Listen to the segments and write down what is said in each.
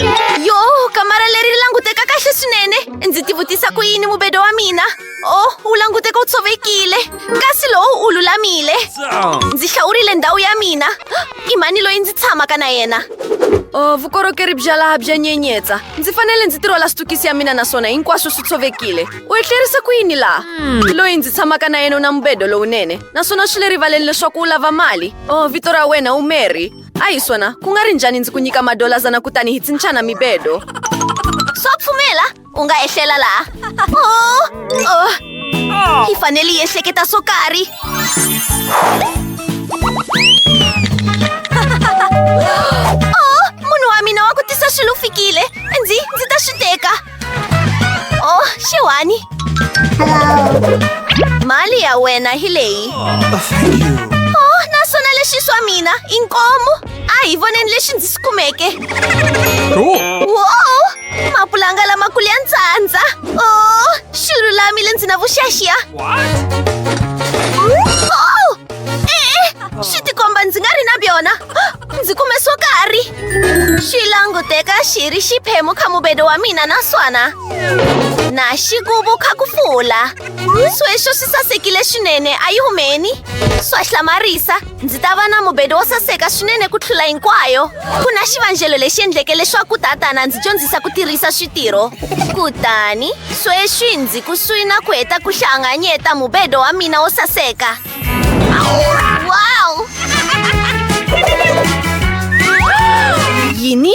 yo kamara leri ri languteka kahle swinene ndzi tivutisa ku yini mubedo wa mina o oh, wu languteka wu tshovekile kasi lowu wu lulamile ndzi hlawurile ndhawu ya mina i mhani loyi ndzi tshamaka na yena o oh, vukorhokeri bya laha bya nyenyetsa ndzi fanele ndzi tirhola switukisi ya mina naswona hinkwaswo swi tshovekile u etlerisa ku yini laha hmm. loyi ndzi tshamaka na yena u na mubedo lowunene naswona swi le rivaleni leswaku u lava mali o oh, vito ra wena u mary a hi swona ku nga ri njhani ndzi ku nyika madolazana kutani hi tsinchana mibedo swa pfumela u nga ehlela laha oh, oh. hi fanele yi ehleketa swo karhi oh, munhu wa mina wa ku tisa swilo fikile ndzi ndzi ta swi teka Oh, xewani. Mali ya wena hi leyi. Oh, naswona leswi swa mina i nkomo. A hi voneni lexi ndzi swi kumeke. Wow! Mapulanga lamakulu ya ntsandza. Oh, xi lulamile ndzi na vuxaxia. Oh! Eh, swi tikomba ndzi nga ri na byona. ndzi kume swo karhi xi languteka xi ri xiphemu kha mubedo wa mina naswona na xi kuvu kha ku fula sweswo swi sasekile swinene a yi humeni swa hlamarisa ndzi ta va na mubedo wo saseka swinene ku tlula hinkwayo ku na xivangelo lexi endleke leswaku tatana ndzi dyondzisa ku tirhisa switirho kutani sweswi ndzi kusuhi na ku heta ku hlanganyeta mubedo wa mina wo saseka Wow! Yini?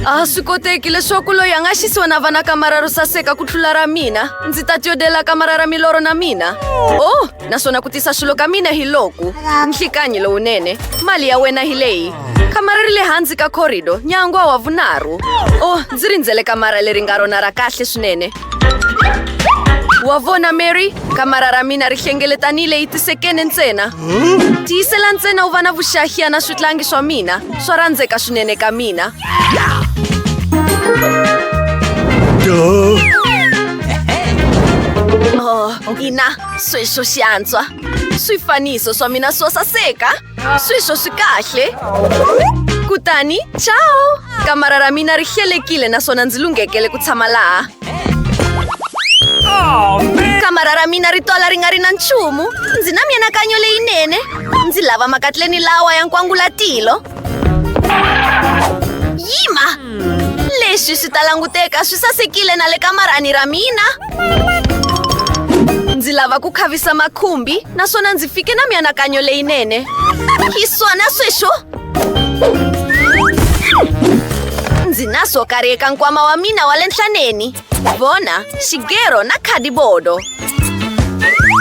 a swi koteki leswaku loyi a nga xisiwa na vana kamara ro saseka ku tlula ra mina ndzi ta tyodela kamara ra milorho na mina oh naswona ku tisa swilo ka mina hi loku nhlikanyi lowunene mali ya wena hi leyi kamara ri le hansi ka corridor nyangwa wa vunharhu oh ndzi rindzele kamara leri nga rona ra kahle swinene Wa vona Mary, kamara ra mina ri hlengeletanile yi tisekene ntsena. Tiyisela ntsena u va na vuxahiya na switlangi swa mina, swa rhandzeka swinene ka mina. Oh, ina, sweswo xi antswa. Swifaniso swa mina swo saseka. Swiso swi kahle kutani ciao kamara ra mina ri hlelekile naswona ndzi lunghekele ku tshama laha kamara ra mina ri twala ri nga ri na nchumu ndzi na mianakanyo leyinene ndzi lava makatleni lawa ya nkwangulatilo yima leswi swi ta languteka swi sasekile na le kamarani ra mina ndzi lava ku khavisa makhumbi naswona ndzi fike na mianakanyo leyinene hi swona sweswo ndzi na swo karhi eka nkwama wa mina wa le nhlaneni vona xigero na khadibodo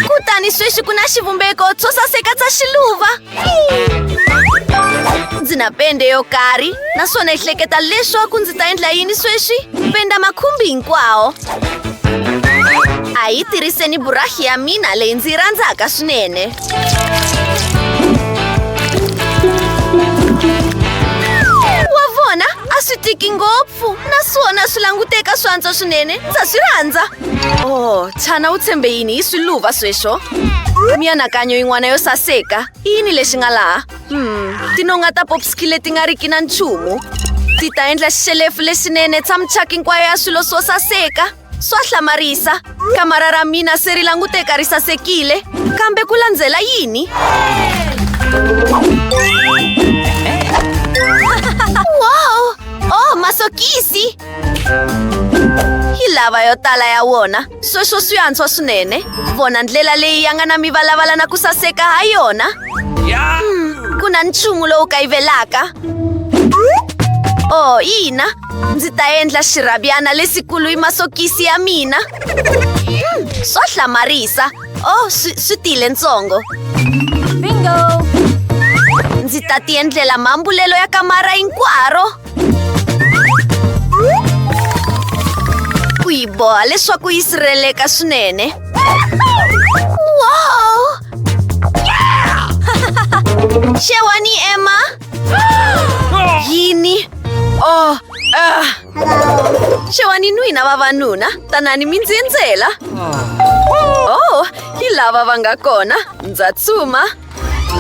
kutani sweswi ku na xivumbeko tswo saseka tsa xiluva ndzi na pende yo karhi naswona hi hleketa leswaku ndzi ta endla yini sweswi penda makhumbi hinkwawo a yi tirhiseni burahi ya mina leyi ndzi yi rhandzaka swinene wa vona a swi tiki ngopfu naswona swi languteka swantswa swinene ndza swi rhandza Oh, Chana u tshembe yini hi swiluva sweswo? Mianakanyo yin'wana yo saseka. I yini lexi nga laha? Hmm, tinonga ta popski leti nga riki na nchumu. Ti ta endla xelefu lexinene tshamichaki hinkwayo ya swilo swo saseka. Swa hlamarisa. Kamara ra mina se ri languteka ri sasekile. Kambe ku landzela yini? wow! Oh, masokisi! yi lava yo tala ya wona sweswo swi antswa swinene vona ndlela leyi ya nga na mivalavala na ku saseka ha yona hmm, ku na nchumu lowu kayivelaka o oh, ina ndzi ta endla xirhabyana lesikulu hi masokisi ya mina hmm, swo hlamarisa o oh, swi tile ntsongo ndzi ta ti endlela mambulelo ya kamara hinkwaro ku yi boha leswaku yi sirheleka swinene wow xewani emma yini oh ah. xewani n'wina vavanuna tanani mi ndzi endzela oh hi lava va nga kona ndza tsuma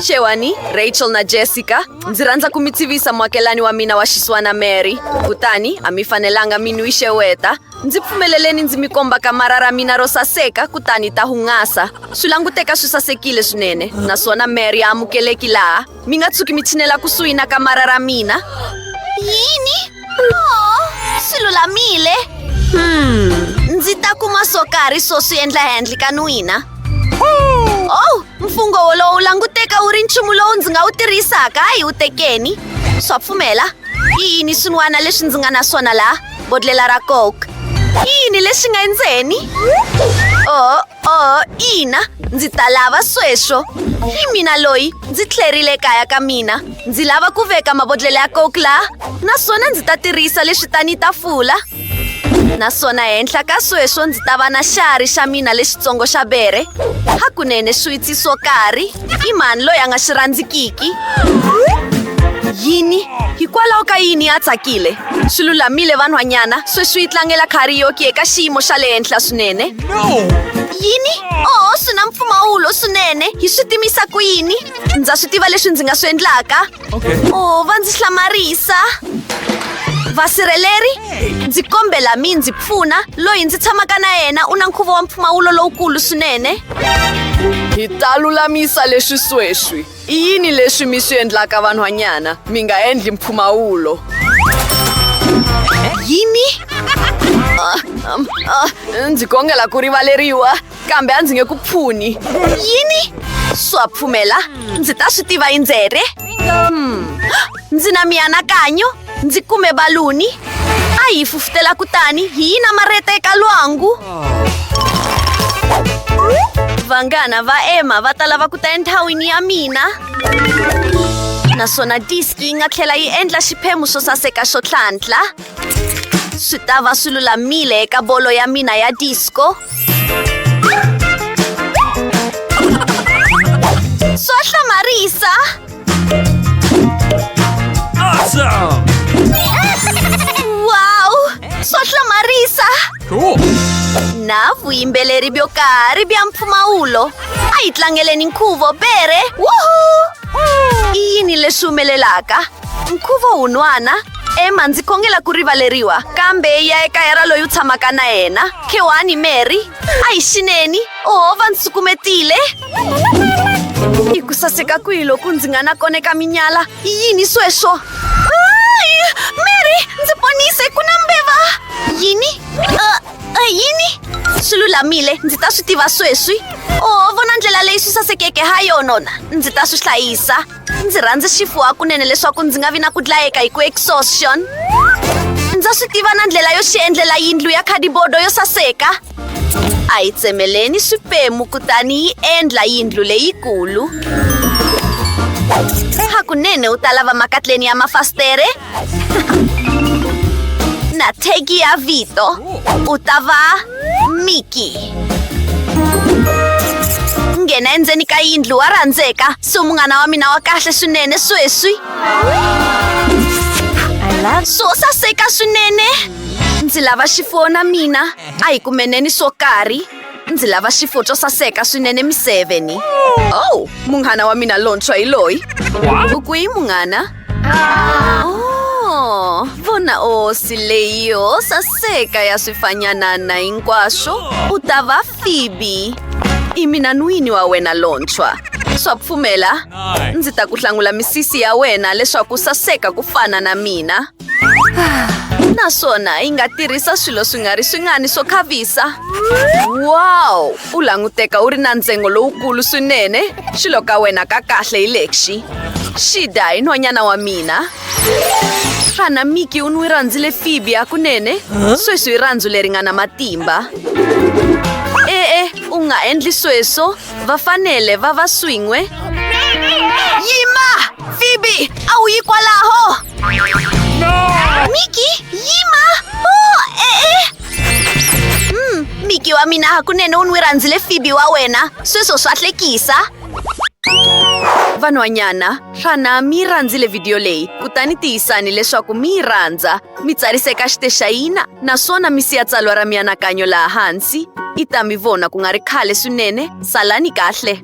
xewani rachel na jessica ndzi rhandza ku mi tivisa muakelani wa mina wa xiswana mary kutani a mi fanelanga mi nwi xeweta ndzi pfumeleleni ndzi mi komba kamara ra mina ro saseka kutani ta hungasa swi languteka swi sasekile swinene naswona mary a amukeleki laha mi nga tshuki mi tshinela kusuhi na kamara ra mina yini swi lulamile hmm ndzi ta kuma swo karhi swo swi endla handle ka n'wina oh mfungho wolowo wu languteka wu ri nchumu lowu ndzi nga wu tirhisaka hayi wu tekeni swa pfumela i yini swin'wana leswi ndzi nga na swona laha bodlela ra coke i yini lexi nga endzeni o oh, Oh, ina, ndzi ta lava sweswo. Hi mina loyi ndzi tlherile ekaya ka mina. Ndzi lava ku veka mabodlhela ya coke laha naswona ndzi ta tirhisa leswi tani tafula. Naswona henhla ka sweswo ndzi ta va na xari xa mina lexitsongo xa bere. Hakunene swiwitsi swo karhi. I mani loyi a nga xi rhandzikiki? Yini? Hikwalaho ka yini a tsakile? Swi lulamile vanhwanyana, sweswi yi tlangela karaoke eka xiyimo xa le henhla swinene. Yini? Oh, swi na mpfumawulo swinene. Hi swi timisa ku yini? Ndza swi tiva leswi ndzi nga swi endlaka. Okay. Oh, va ndzi hlamarisa. Vasirheleri, ndzi kombela mi ndzi pfuna loyi ndzi tshamaka na yena u na nkhuvo wa mpfumawulo lowukulu swinene. Hi ta lulamisa leswi sweswi. I yini leswi mi swi endlaka vanhwanyana? Mi nga endli mpfumawulo. Yini? Ah, um, ah, ndzi kongela ku rivaleriwa. kambe a ndzi nge ku pfuni yini swa pfumela ndzi ta swi tiva indzere hmm. ndzi na mianakanyo ndzi kume baluni a yi fufutela kutani hi yi namarheta eka lwangu vanghana va emma va ta lava ku ta enthawini ya mina naswona diski yi nga tlhela yi endla xiphemu xo saseka xo tlhantlha Swi ta va swi lulamile eka bolo ya mina ya disco. Swa hlamarisa. Awesome! Wow! Swa hlamarisa. Cool! Na vuyimbeleri byo karhi bya mpfumawulo. A yi tlangeleni nkhuvo bere. Woohoo! I yini leswi humelelaka? Nkhuvo wun'wana ema ndzi khongela ku rivaleriwa kambe yi ya ekaya ra loyi u tshamaka na yena khewani mary a hi xineni ohova ndzi sukumetile i ku saseka kwihi loku ndzi nga na kona eka minyala i yini sweswo mary ndzi ponise ku na mbeva yini uh, uh, yini swi lulamile ndzi ta swi tiva sweswi o vona ndlela leyi swi sasekeke ha yonona ndzi ta swi hlayisa ndzi rhandza xifuwa kunene leswaku ndzi nga vi na ku dlayeka hi ku exhaustion ndza swi tiva na ndlela yo xi endlela yindlu ya khadibodo yo saseka a yi tsemeleni swiphemu kutani yi endla yindlu leyikulu hakunene u ta lava makatleni ya mafasitere Nategia Vito Utava Miki nghena endzeni ka yindlu wa rhandzeka so munghana wa mina wa kahle swinene sweswi swo saseka swinene ndzi lava xifuwo na mina a hi kumeneni swo karhi ndzi lava xifuwo xo saseka swinene mi seveni ow oh, munghana wa mina lontshwa hi loyi u kwihi munghana Oh, vona osi leyi yo saseka ya swifanyanana hinkwaswo u ta va Phoebe. I mina n'wini wa wena lontshwa. Swa pfumela? Ndzi ta ku hlangula misisi ya wena leswaku saseka ku fana na mina. Naswona yi nga tirhisa swilo swi nga ri swingani swo khavisa. Wow! U languteka u ri na ntsengo lowukulu swinene. Xilo ka wena ka kahle hi lexi. shida hi nhwanyana wa mina xana miki u n'wi rhandzile fibi hakunene sweswi hi rhandzu leri nga na matimba e-e u nga endli sweswo va fanele va va swin'we yima fibi a wu yi kwalaho miki yima o e-e mm, miki wa mina hakunene u n'wi rhandzile fibi wa wena sweswo swa hlekisa Vanhwanyana, xana mi yi rhandzile vhidiyo leyi? Kutani tiyisani leswaku mi yi rhandza, mi tsarisa eka xitexayina naswona mi siya tsalwa ra mianakanyo laha hansi. I ta mi vona ku nga ri khale swinene. Salani kahle!